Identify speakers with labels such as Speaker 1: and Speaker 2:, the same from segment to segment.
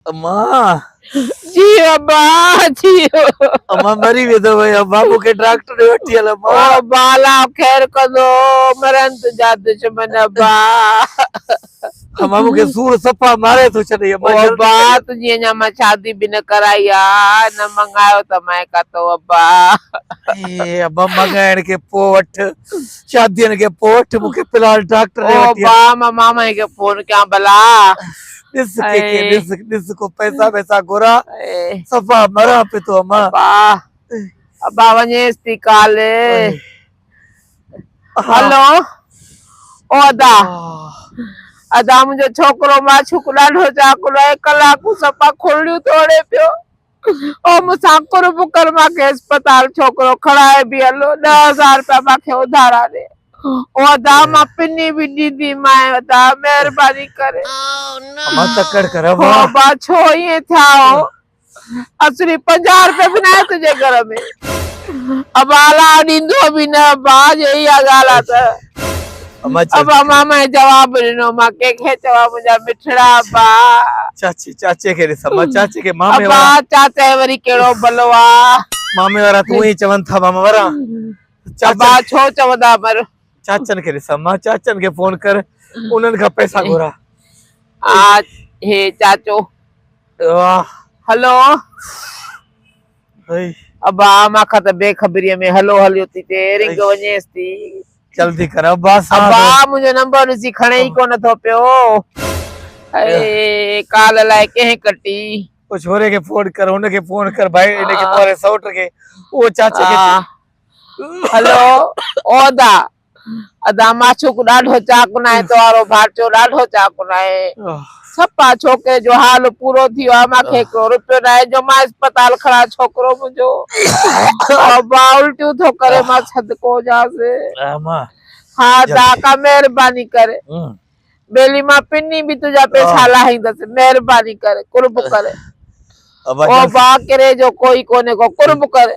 Speaker 1: امان
Speaker 2: جي ابا جي امان
Speaker 1: مري ويندو وي ابا مون کي ڊاڪٽر ڏي وٺي هل ابا ابا لا
Speaker 2: خير ڪندو مرن تنهنجا دشمن ابا
Speaker 1: امان مون کي سور صفا ماري ٿو ڇڏي ابا ابا تنهنجي
Speaker 2: اڃا
Speaker 1: مان شادي
Speaker 2: به نه ڪرائي آ نه منگايو ته مائي ڪاتو ابا اي
Speaker 1: ابا منگائڻ کي پو وٺ شادين کي پو وٺ مون کي فلحال ڊاڪٽر ڏي وٺي ابا مان مامي کي
Speaker 2: فون ڪيان بلا ڏس
Speaker 1: ڪي ڪي ڏس ڏس ڪو
Speaker 2: پئسا
Speaker 1: وئسا گهرا صفا
Speaker 2: مران پي
Speaker 1: ٿو امان ابا
Speaker 2: ابا وڃيس ٿي ڪال هلو او ادا ادا منهنجو ڇوڪرو معشوق ڏاڍو چاڪلو آهي ڪلاڪون صفا کلڙيون توڙي پيو او مون سان قرب ڪر مان کي اسپتال ڇوڪرو کڻائي به هلو ڏهه هزار روپيا مان کي اڌارا ڏي او ادا مان پني به ڏيندي مانء ادا مهرباني ڪري امان
Speaker 1: تڪڙ ڪر او امان ابا ڇو
Speaker 2: ائين ٿيا هو اسري پنجاهه روپيا به ناهي تنهنجي گهر ۾ ابا الا ڏيندو به نه ابا جي اها ڳالهه آ ته ابا
Speaker 1: مامي
Speaker 2: جواب ڏنو مان ڪنهن کي چوان منهنجا مٺڙا ابا چاچي چاچي
Speaker 1: کي ڏسان مان چاچي کي مامي ابا چاچي وري ڪهڙو
Speaker 2: بلو آ مامي وارا تون
Speaker 1: ئي چون ٿا ماما وارا ابا
Speaker 2: ڇو چوندا پر چاچن کي ڏسان
Speaker 1: مان چاچن کي فون ڪر انهن کان پئسا گهرا آ
Speaker 2: هي چاچو
Speaker 1: واه هلو ابا اما کان ته
Speaker 2: بي خبريء ۾ هلو هليو ٿي پئي، رنگ وڃيس ٿي. جلدي ڪر
Speaker 1: ابا سان. ابا منهنجو
Speaker 2: نمبر ڏسي کڻي ئي ڪونه ٿو پيو. هيء ڪال الائي ڪنهن ڪٽي. او ڇوري کي
Speaker 1: فون ڪر، هن کي فون ڪر ڀائي، هن کي مون واري سئوٽ کي، او چاچي کي.
Speaker 2: هلو عهدا. ادا معشوق ڏاڍو چاڪن آهي توهارو ڀاٽيو ڏاڍو چاڪن آهي سپا ڇوڪري جو حال پورو ٿي ويو آهي مانکي هڪڙو روپيو ناهي جو مان اسپتال کڻا ڇوڪرو منهنجو با الٽيون ٿو ڪري مان صدقو هجانس
Speaker 1: ها ادا
Speaker 2: ڪا مهرباني ڪر ٻيلي مان پني به تنهنجا پيسا لاهيندس مهرباني ڪر قرب ڪر او با ڪري جو ڪوئي ڪونهي ڪو قرب ڪر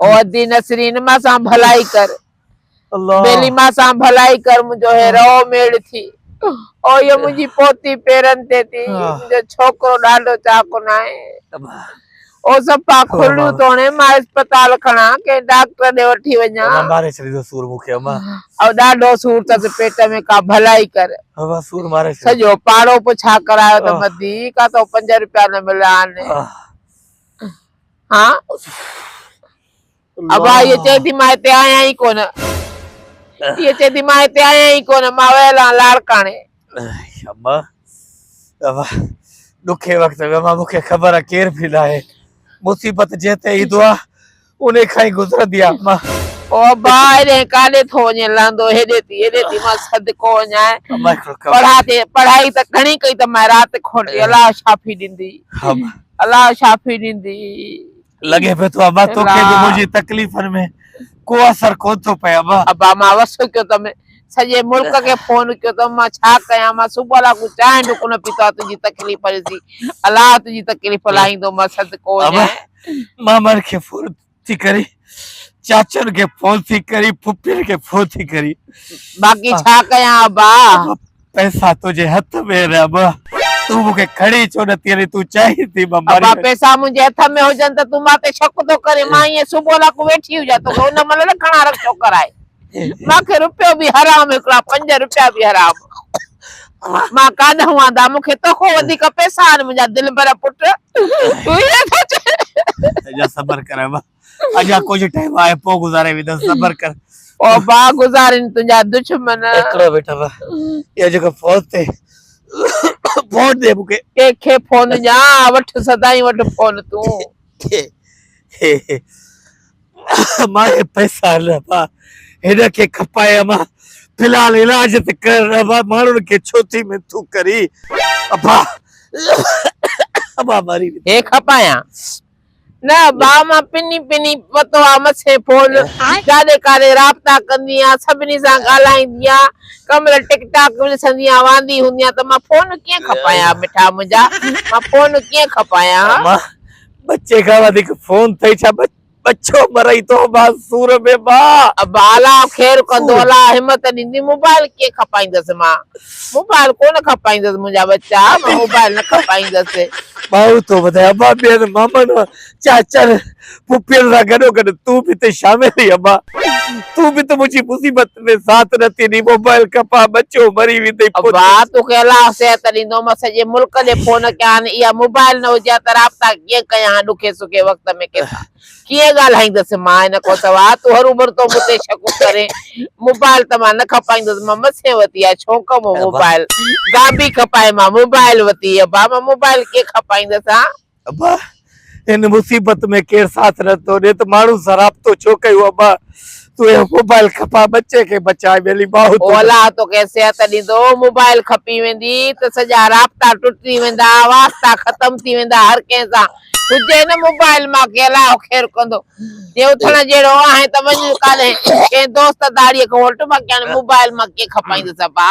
Speaker 2: او ادي نسرين ما سان ڀلائي ڪر بيلي
Speaker 1: ما سان
Speaker 2: ڀلائي ڪر منهنجو هي رو ميڙ ٿي او يو منهنجي پوتي پيرن تي ٿي منهنجو ڇوڪرو ڏاڍو چاڪو نه آهي او صفا کليون توڻي مان اسپتال کڻا ڪنهن ڊاڪٽر ڏي وٺي وڃا ماري ڇڏيندو سور
Speaker 1: مون کي اما او ڏاڍو سور
Speaker 2: تس پيٽ ۾ ڪا ڀلائي ڪر اما سور ماري
Speaker 1: سڄو پاڙو پڇا
Speaker 2: ڪرايو ته مدي ڪا تو 5 روپيا نه مليا آهن ها ابا هيء چئي ٿي مان هتي آهيان ئي ڪونه هيء چئي ٿي مان هتي آهيان ئي ڪونه مان ويل آهيان لاڙڪاڻي ابا
Speaker 1: ابا ڏکي وقت ۾ مان مون کي خبر آهي ڪير بي ناهي مصيبت جنهن تي ايندو آهي انهي کان ئي گذرندي آ مان. او ابا
Speaker 2: هيڏانهن ڪاڏي ٿو وڃين لهندو هيڏي ٿي هيڏي ٿي مان صدقو وڃائين پڙهان ٿي پڙهائي ته گهڻي ڪئي ته مائي رات کوٽي الله شافي ڏيندي الله شافي ڏيندي. لڳي
Speaker 1: پيو ٿو ابا توکي به منهنجي تڪليفن ۾ ڪو اثر ڪون ٿو پئي ابا. ابا مان وسڪيو
Speaker 2: ته م. سڄي ملڪ کي فون ڪيو ته مان ڇا ڪيان مان صبح لاڳو چانهه به ڪونه پيتو آهي تنهنجي تڪليف ڏسي الله تنهنجي تڪليف لاهيندو مان صدقو وڃان مامن کي
Speaker 1: فون ٿي ڪري چاچن کي فون ٿي ڪري پھپھين کي فون ٿي ڪري باقي ڇا
Speaker 2: ڪيان ابا پئسا
Speaker 1: تنهنجي هٿ ۾ آهن ابا تون مون کي کڻي ڇو نه ٿي تون چاهين ٿي مان مري ابا پئسا منهنجي
Speaker 2: هٿ ۾ هجن ته تون مان تي شڪ ٿو ڪرين مان ائين صبح لاڳو ويٺي هجان توکي ان مھل نه کڻا رکشو ڪرائي ماکي روپيو به حرام هڪڙا پنج روپيا به حرام مان ڪاڏ هئان دا مونکي توکو وڌيڪ پيسا آن منهنجا دلبر پٽ تون هي ٿو چين اجا صبر ڪر ابا
Speaker 1: اجا ڪجهه ٽائيم آهي پو گذاري ويندس صبر ڪر او با
Speaker 2: گذارين تنهنجا
Speaker 1: دشمن
Speaker 2: هڪڙو
Speaker 1: بيٽ ابا اهو
Speaker 2: جيڪو
Speaker 1: فوت تي فون ڏي مونکي ڪي کي فون
Speaker 2: ڏيان وٺ سدائين وٺ فون تون
Speaker 1: امان کي پئسا آهن ابا هن کي کپائي امان في الحال علاج ته ڪر ابا ماڻهن کي ڇو ٿي منٿون ڪري ابا ابا مري هي کپايان
Speaker 2: نه ابا مان پني پني پتو آ مٿين فون جاڏي ڪاڏي رابطا ڪندي آ سڀني سان ڳالهائيندي آ ڪمل ٽڪ ٽاڪ به ڏسندي آ واندي هوندي آ ته مان فون ڪيئن کپايان مٺا منهنجا مان فون ڪيئن کپايان امان
Speaker 1: ٻچي کان وڌيڪ فون ٿئي ڇا ٻچو مرئي تو مان سور ۾ مان. ابا الا خير
Speaker 2: ڪندو الا همت ڏيندي موبائل ڪيئن کپائيندس مان موبائل ڪونه کپائيندس منهنجا ٻچا مان موبائل نه کپائيندس. ٻانهون ٿو
Speaker 1: وڌائي ابا ٻين مامن چاچن پڦين سان گڏوگڏ تون به ته شامل ٿي ابا تون به ته منهنجي مصيبت تنهنجي ساٿ نه ٿيندي موبائل کپان ٻچو مري ويندي پوء ابا تو کي الله
Speaker 2: صحت ڏيندو مان سڄي ملڪ ڏي فون ڪيان اها موبائل نه هجي ها ته رابطا ڪيئن ڪيان ها ڏکي سکي وقت ۾ ڪي سان ڪيئن ڳالهائيندس مان هن کان سواء تو هروڀرو تو مون تي شڪ ڪرين موبائل ته مان نه کپائيندس مان مٿين وتي آهي شونق مون موبائل گابي کپائي مان موبائل وتي ابا مان موبائل ڪيئن کپائيندس ها ابا
Speaker 1: ان مصيبت ۾ ڪير ساٿ نه ٿو ڏي ته ماڻهو سراپتو ڇو ڪيون ابا تون اهو موبائل کپاء ٻچي کي بچاء ٻيلي ماهو تون الله توکي
Speaker 2: صحت ڏيندو موبائل کپي ويندي ته سڄا رابطا ٽٽي ويندا واسطا ختم ٿي ويندا هر ڪنهن سان هجي نه موبائل مان کي الله خير ڪندو جي اٿڻ جهڙو آهين ته وڃ ڪالهه ڪنهن دوست داڙهي کي هوٽ مان ڪيان موبائل مان ڪي کپائيندس ابا